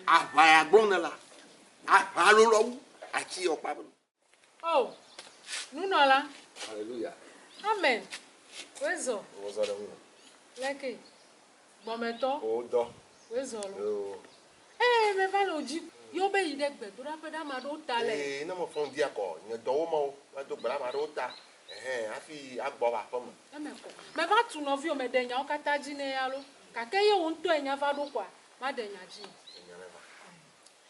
Aʋa ya gblɔ ne la, aʋa alo lɔ wu atsi yɔ kpa beno. O, nunɔla. Hallelujah. Amen. Wezɔ. Wozɔ ɖe ŋu. Leke. Gbɔmetɔ. Wodɔ. Wezɔ lo. Yoo. Ee, me va le odzi. Yɔ be yi ɖe gbedoɖaƒe ɖe ame aɖewo ta le. Ee, ne me fɔn via kɔ nye dɔwo me o, me do gbe ɖe ame aɖewo ta, ɛhɛ, afi a gbɔ va aƒe me. Eme kɔ. Me va tu nɔvio me ɖe nyawo kata dzi nɛ alo. Gake ye wo ŋutɔ ye nya va ɖo kɔa, Maɖe nya dzi. Enya ɖe va.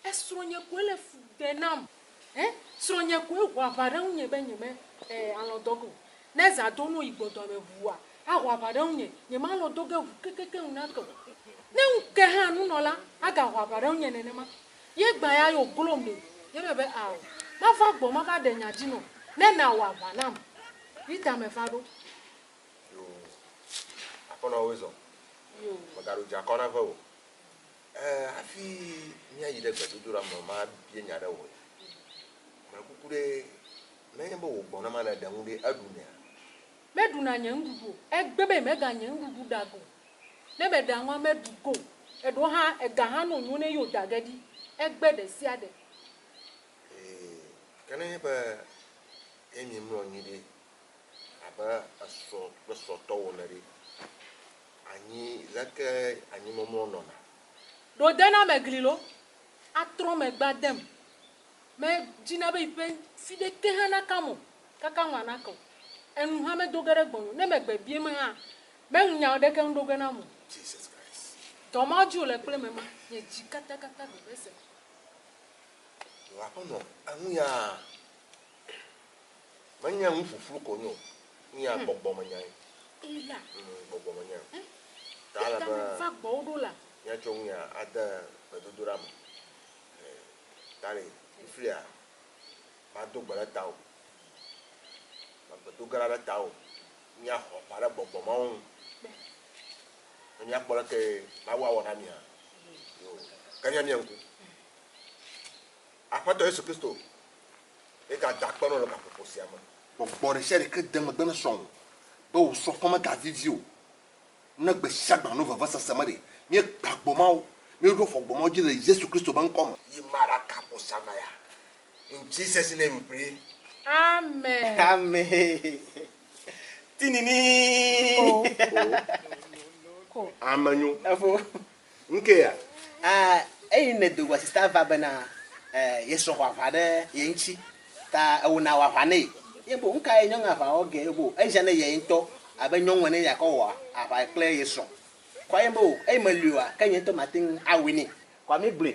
Esrɔ̃nye koe le fu ɖe nam. Ɛ? Srɔ̃nye koe ho aʋa ɖe ŋunye be nyeme ɛ alɔ̃ dɔ ge o. Ne zã do no yi gbɔdɔa me ʋua, aho aʋa ɖe ŋunye. Nyemalɔ̃ dɔ ge ʋu kekekeŋ ŋu nake o. Ne ŋu ke hã nunɔla aga ho aʋa ɖe ŋunye nenema. Ye gbã ya yo glom ɖe. Ye be be ao. Mava gbɔ mava ɖe nya dzi nɔ. Ne na wɔ aʋa nam. Rita me va ɖo. Yo, Aƒenɔ woe zɔ. Yo. Mègaɖo dzi akɔ nave o. Ẽ, hafi míayi ɖe gbedodoɖa me mabia nya ɖe wò ya. Meɖe kuku ɖe, ne enye be wò gbɔ ne ma nèɖe nu ɖe, eɖunɛa? Meɖuna nye nuɖuɖu o. Egbe be meɖa nye nuɖuɖu ɖa go. Ne meɖa nua, meɖu go. Eɖewo hã, ega hã nɔ nyo ne yio da ge ɖi. Egbe ɖe sia ɖe. Ẽ, ke ne enye be ye miemlɔ anyi ɖe abe esrɔ̃ kple srɔ̃tɔwo ene ɖe, anyi leke anyimɔmlɔ nɔna? Ɖo denamegli lɔ atrɔ megbe adem, medina be yiƒe ŋti ɖeke hã nakam o, kaka ŋu anake o, enu hã medo ge ɖe gbɔnye o, ne megbe bieme hã, meŋu nya aɖeke ŋu ɖo ge nam o. Jesus Christ. Dɔ ma dzi wòle kple me ma, nye dzi katakata veve se. Ɖo aƒenɔ, eŋu yaa? Menye nu ƒuƒlu ko wonye o, nuya hmm. gbɔgbɔmenyae. Eya. Mm, gbɔgbɔmenyae. Eh? Ta ale be. Va gbɔwo ɖo la. Míatsɔ nuya ade gbedodoɖa me. Eh, ta le fifia mado gbe ɖe tawò. Magbedo ge ɖe tawò. Míaxɔ aʋa ɖe gbɔgbɔ mawo ŋu. Ne míakpɔ leke Mawu awɔ na mía. Yo. Ke mía mía ŋku. Aƒetɔ Yesu Kristo ye gada akpe nɔ le gaƒoƒo sia me. Gbɔgbɔ ɖesiaɖe ke de megbe ne srɔ̃wò be wò srɔ̃ƒe megavivi o. Ne gbesiagbe alo vevesese me ɖe, míegbã gbɔ mawo, míeɖo afɔ gbɔ mawo dzi le Yesu Kristo ƒe ŋkɔ me. Yi mara ka hosanna ya in Jesus name pray. Amen. Amen. Tinini. Ko. Ko. Amenyo. Efo. Ŋkea? A Eyi nèdo go asi ta va bena e yesrɔ̃ xɔ aʋa ɖe ye ŋtsi ta ewo na woaʋa nɛ. Ye bo ŋka ye nyɔŋ aʋa wɔ ge bo eʒan ne yɛ ŋtɔ abe nyɔŋ ene ya kɔ wɔ aʋa kple ye srɔ̃. Kɔa ye bo eyi meliɔa ke nye ŋtɔ mateŋ awui nɛ. Kɔa mi gblɔe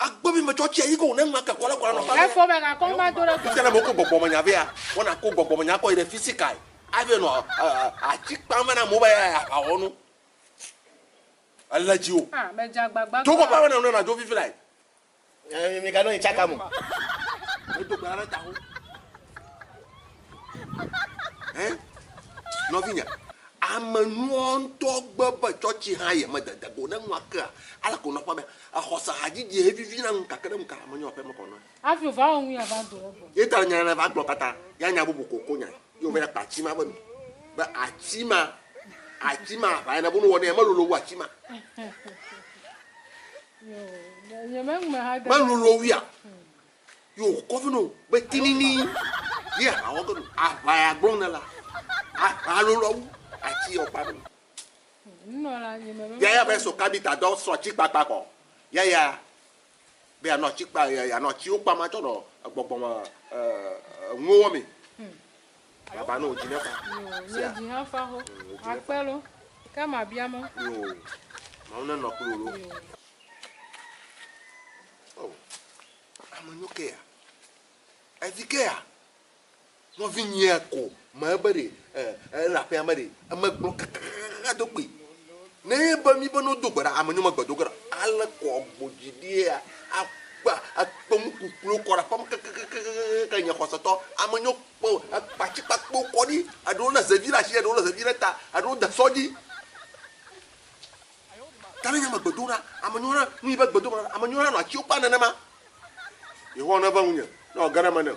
Agbe mi metsɔ tsia yi ko ne ŋua ke kɔla kɔla nɔ fa. Efɔ me na kɔn ma do ɖe. Ŋutsa ne moko gbɔgbɔ me nya vea, wɔna ko gbɔgbɔ me nya kɔ yi ɖe fisikai. Abe nɔ atsi kpam vana amewo be ya ya xawɔ nu. Ele dzi o. Ah, me dza gbagba. Dzo kɔƒe abe ne nɔ na dzo vivi lai. Eh, mi ka nɔ yi tsaka mo. Edo gbara ɖe taho. Hein? Nɔvinye, ame nuɔ ŋutɔ gbe be tsɔtsi hã ye me dede go ne nua kea, ale ko nɔƒe be exɔse hadzidzi he vivi na ŋuka ke ɖe ŋuka ame nyɔ aƒe me kɔ nɔe. Hafi o va wɔ ŋu ya va do ɖe gbɔ. Ye ta nya ne va gblɔ kata ya nya bubu ko ko nya ye o va ya kpa atsi ma be nu. Be atsi ma, atsi ma aʋa ya ne bo no wɔ ne ya me lolo wu atsi ma. Yo, nye me ŋume ha de. Me lolo wu ya. Ye wòkɔ vɛ na wo be tinini ye aʋa wɔ ge ɖo. Aʋa ya gblɔm nèlea, aʋa lolo awu atsi ye wòkpa ɖo. Yaya be sɔ kabita dɔ sɔ atsi kpakpa kɔ. Yaya be yeanɔ atsi kpa yeanɔ atsiwo kpam atsɔ nɔ egbɔgbɔme enuwo wɔ mee. Baba nɔ dzi ne fa. Sia. Dzi hã fa xo. Akpe lo. Ke ma bia mɔ. Yo. Mawu nenɔ kpli wò lo. Oh, ame nyo ke ya. Evi ke ya. Nɔvi nyia ko ma ebe ɖe e la pe ame ɖe eme gblɔ kaka do kpi. Ne be mi be no do gbe ɖa ame nyo me gbe do gbe ɖa. Ale kɔ gbo dzi ɖi ya. Akpa akpa mu kuklo kɔ ɖa pam kaka kaka kaka nya kɔsa tɔ. Ame nyo kpo akpa tsi kpa kpo kɔ ɖi. Aɖo le zevi la tsi aɖo le zevi la ta aɖo da sɔ dzi. Ta nenye megbe do na ame nyɔna nui be gbedoxɔ nana ame nyɔna nɔ atiwo kpa nenema. Yehowa nɔ eŋe ŋunye ne wòage ɖe eme nam.